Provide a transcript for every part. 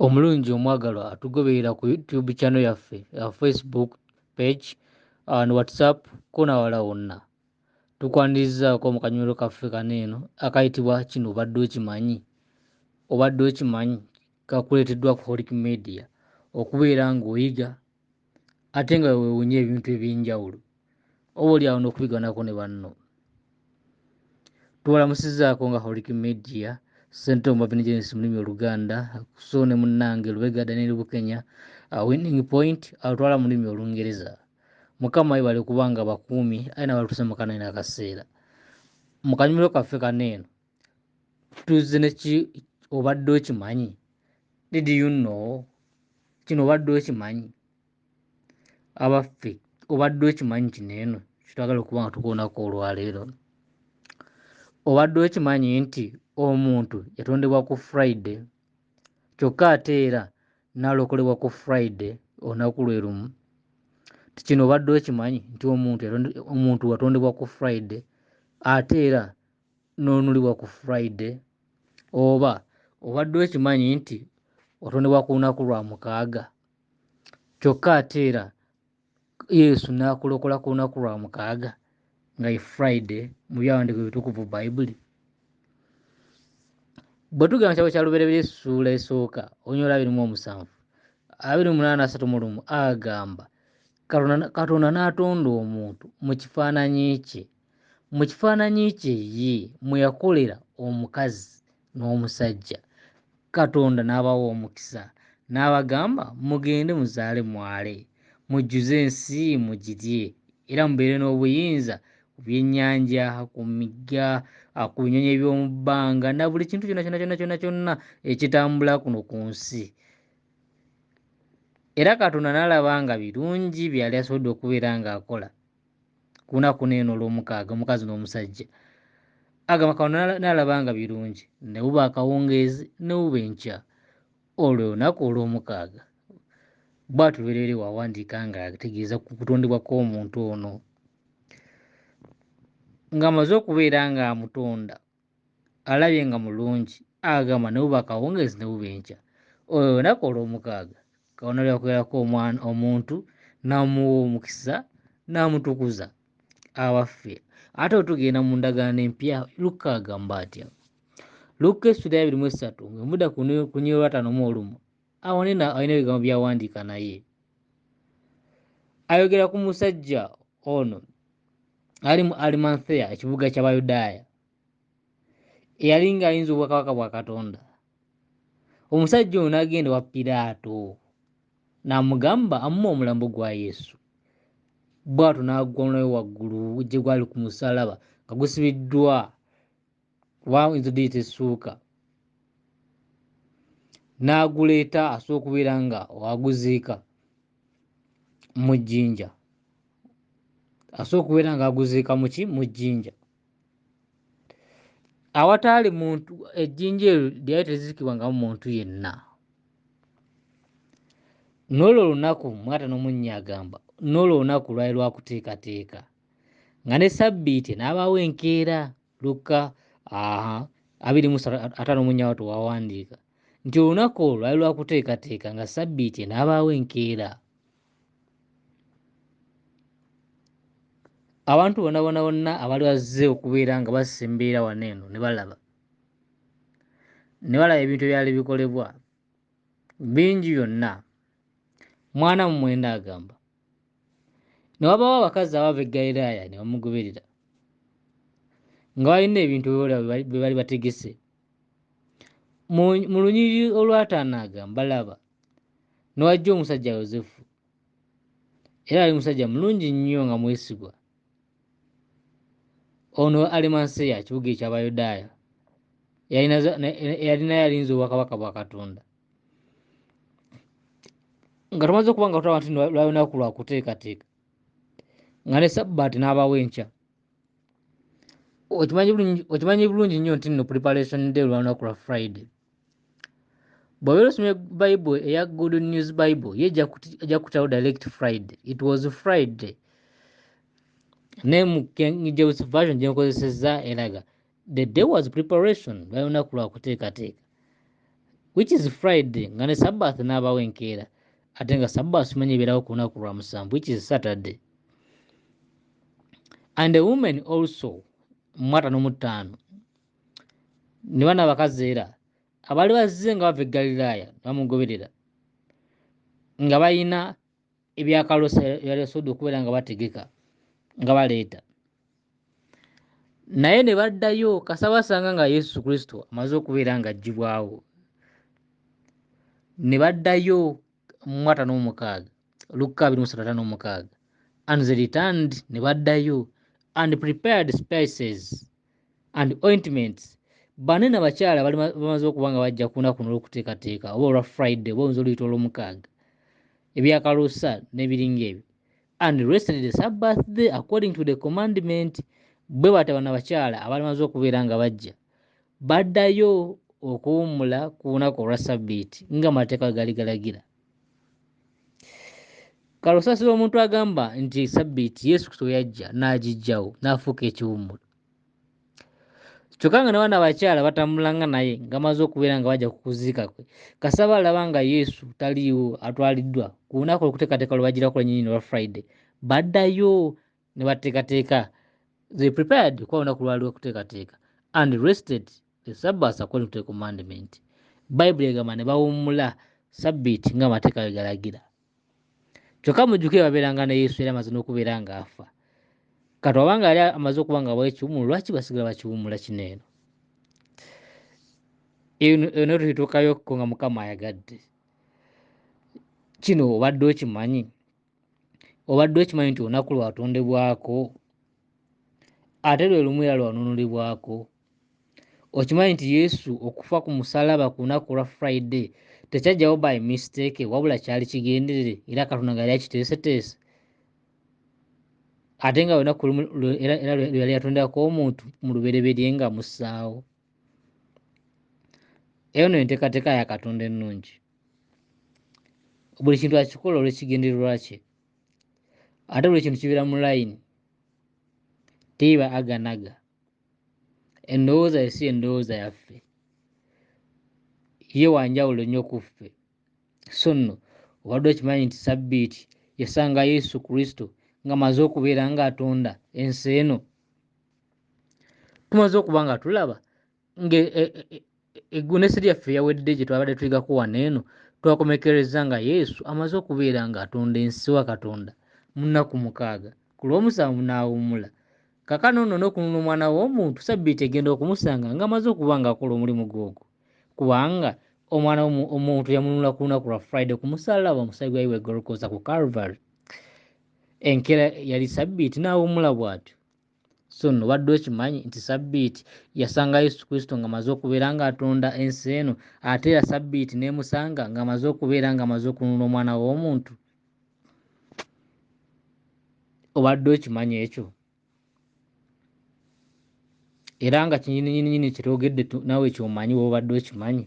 omulungi omwagalwa atugoberera ku youtube channel yaffe uh, facebook page uh, ne whatsapp konawala wonna tukwanirizaako mu kanyulo kaffe kano eno akayitibwa kino obadde okimanyi obadde okimanyi kakuleeteddwa ku holic media okubeera ng'oyiga ate nga wewewunya ebintu ebyenjawulo oba oli awo n'okubiganako ne banno tubalamusizaako nga holic media sente omubabinegenes mu lulimi oluganda so ne munnange lubega daniel bukenya uh, winning point alutwala mu lulimi olungereza mukama ibale kubanga bakuumi aye nabalutusa mukanaina akaseera mu kanyumiro kaffe kaneeno tuzze neki obadde okimanyi did you know kino obadde okimanyi abaffe obadde okimanyi kino eno kitwagala okuba nga tukoonako olwaleero obadde okimanyi nti omuntu yatondebwa ku friday kyokka ate era nalokolebwa ku friday olunaku lwe lumu tikino obadde okimanyi nti omuntu omuntu watondebwa ku friday ate era n'onulibwa ku friday oba obadde okimanyi nti otondebwa ku lunaku lwa mukaaga kyokka ate era yesu n'akulokola ku lunaku lwa mukaaga nga ye friday mu byawandiiko ebitukuvu bayibuli bwe tugenda mu kitabo kya lubereberye essuula esooka onyoola abiri mu omusanvu abiri mu munaana asatu mu lumu agamba katonda n'atonda omuntu mu kifaananyi kye mu kifaananyi kye ye mwe yakolera omukazi n'omusajja katonda n'abawa omukisa n'abagamba mugende muzaale mwale mujjuze ensi mugirye era mubeere n'obuyinza ku byennyanja ku migga ku binyonyi eby'omu bbanga na buli kintu kyonna kyonna kyonna kyonna kyonna ekitambula kuno ku nsi era katonda n'alaba nga birungi byeyali asobodde okubeera ng'akola kunaku neeno olwomukaaga omukazi n'omusajja agamba kano nalabanga birungi nebuba akawungeezi nebuba enkya olwo olunaku olwomukaaga bwatu bereere wawandiika nga ategeeza ku kutondebwa kw'omuntu ono ng'amaze okubeera ng'amutonda alabye nga mulungi agamba ne buba akawungeezi ne buba enkya olwo olunaku olw'omukaaga katonda lyakubeerako omwana omuntu n'amuwa omukisa n'amutukuza abaffe ate otugenda mu ndagaano empya lukka agamba atya lukka essula yabiri mu essatu nga muda kunyolwatano mu olumu awo nina alina ebigambo byawandiika naye ayogera ku musajja ono ali mu alimantheya ekibuga ky'abayudaaya eyali ng'ayinza obwakabaka bwa katonda omusajja ono n'agenda wa piraato n'amugamba amume omulambo gwa yesu bw'ato n'agwa omulabe waggulu gye gwali ku musalaba nga gusibiddwa waawo nze diyita essuuka n'aguleeta asobola okubeera nga aguziika mu jjinja asobola okubeera nga aguziika muki mu jjinja awataali muntu ejjinja eryo lyali teziikibwangamu muntu yenna n'olwo olunaku mwata n'omunnya agamba n'olwo olunaku lwali lwakuteekateeka nga ne sabbiiti n'abaawo enkeera lukka aha abiri mu ataano mu nyawo tewawandiika nti olunaku olwo lwali lwakuteekateeka nga sabbiiti enaabaawo enkeera abantu bona bona bonna abali bazze okubeera nga bassa embeera wano eno ne balaba ne balaba ebintu ebyali bikolebwa bingi byonna mwana mu mwenda agamba ne wabaawo abakazi abava e galilaaya ne bamugoberera nga balina ebintu byola bye bali bategese mu lunyiriri olwataano agamba laba ne wajja omusajja yosefu era ali musajja mulungi nnyo nga mwesigwa ono alimanseya kibuga eky'abayudaaya yalinayo alinza obwakabaka bwa katonda nga tumaze okuba nga tulaba nti lwalunaku lwakuteekateeka nga ne sabbaati n'abawo enkya okimanyi bulungi nnyo nti no preparation day lwalunaku lwa friday bw'obeera osomye bible eya good news bible ye ejja kutawo direct friday it was friday naye mu king james version gyenkozesezza eraga the day was preparation lwali lunaku lwa kuteekateeka which is friday nga ne sabbath n'abawo enkeera ate nga sabbath simanyi ebeerawo ku lunaku lwa musanvu which is saturday and a woman also mwata n'omutaano ne bana abakazi era abaali bazze nga bava eggalilaaya bamugoberera nga balina ebyakalosa byalesobodde okubeera nga bategeka nga baleeta naye ne baddayo kasabasanga nga yesu kristo amaze okubeera nga ajjibwawo ne baddayo mwata n'omukaaga lukka abiri musatata n'omukaaga and they returned ne baddayo and prepared spices and ointments bane na bakyala bali bamaze okuba nga bajja kuna kuno olwokuteekateeka oba olwa friday oba oyinza oluyita olwomukaaga ebyakalusa nebiringa ebyo and rested the sabbath day according to the commandment bwe bata bana bakyala abali bamaze okubeera nga bajja baddayo okuwummula ku lunaku olwa sabbiiti nga amateeka gali galagira kale osasira omuntu agamba nti sabbiiti yesu kristo yajja n'agijjawo n'afuuka ekiwummulo kyokka nga nabaana abakyala batambulanga naye nga maze okubeera nga bajja kukuziika kwe kasaba alaba nga yesu taliiwo atwaliddwa ku lunaku olukuteekateeka lwe bagira kulanyini olwa friday baddayo ne bateekateeka they prepared kuba olunaku lwali lwekuteekateeka and rested the sabbath according to the commandment bayibuli egamba ne bawummula sabbiiti nga amateeka bwe galagira kyokka mujjuke babeeranga ne yesu era amaze n'okubeera ng'afa kati oba nga yali amaze okuba nga abawo ekiwumulo lwaki basigala bakiwumula kino eno eno tuituukayokko nga mukama ayagadde kino obadde okimanyi obadde okimanyi nti olunaku lwatondebwako ate lwe lumu era lwanunulibwako okimanyi nti yesu okufa ku musalaba ku lunaku olwa friday tekyajjawo by mistake wabula kyali kigenderere era katonda nga yali akiteeseteese ate nga lunaku era lweyali yatondako omuntu mu lubereberye nga mussaawo eno enteekateeka ya katonda ennungi buli kintu akikola olwekigendererwa kye ate buli kintu kibeera mu layini teiba aganaga endowooza yesi endowooza yaffe ye wanjawulo nnyo ku ffe so nno obadde okimanyi nti sabbiiti yasanga yesu kristo nga maze okubeera ng'atonda ensi eno tumaze okuba nga tulaba nga e, e, e, eggunesi lyaffe yawedde gye twabadde tuyigako wano eno twakomekereza nga yesu amaze okubeera ng'atonda ensi wa katonda mu nnaku mukaaga ku lw'omusanvu n'awummula kakano nno n'okununa omwana w'omuntu sabbiiti egenda okumusanga ng'amaze okuba ng'akola omulimu gwogwo kubanga omwana omuntu yamununula ku lunaku lwa friday ku musaalaba omusaayi gwayi wegolokoosa ku calvary enkeera yali sabbiiti n'awummula bw'atyo so no obadde okimanyi nti sabbiiti yasanga yesu kristo ng'amaze okubeera ng'atonda ensi eno ate era sabbiiti n'emusanga ng'amaze okubeera ng'amaze okununula omwana w'omuntu obadde okimanyi ekyo era nga kinyininyininyini kyetogedde nawe kyomanyi woba obadde okimanyi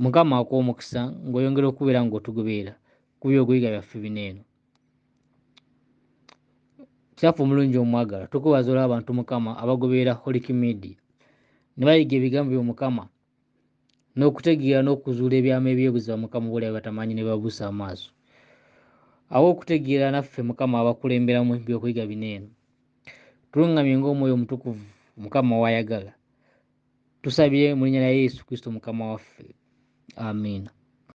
mukama akuwa omukisa ng'oyongera okubeera ng'otugoberera ku byogoyiga byaffe bino eno kitaffe omulungi omwagala tukwebaza olwa abantu mukama abagoberera holic media ne bayiga ebigambo byo mukama n'okutegeera n'okuzuula ebyama eby'obuziba mukama obulabe batamanyi ne babuusa amaaso awo okutegeera naffe mukama abakulemberamu ebyokuyiga bino eno tulungamye ng'omwoyo omutukuvu mukama wayagala tusabye mu linnya lya yesu kristo mukama waffe amiina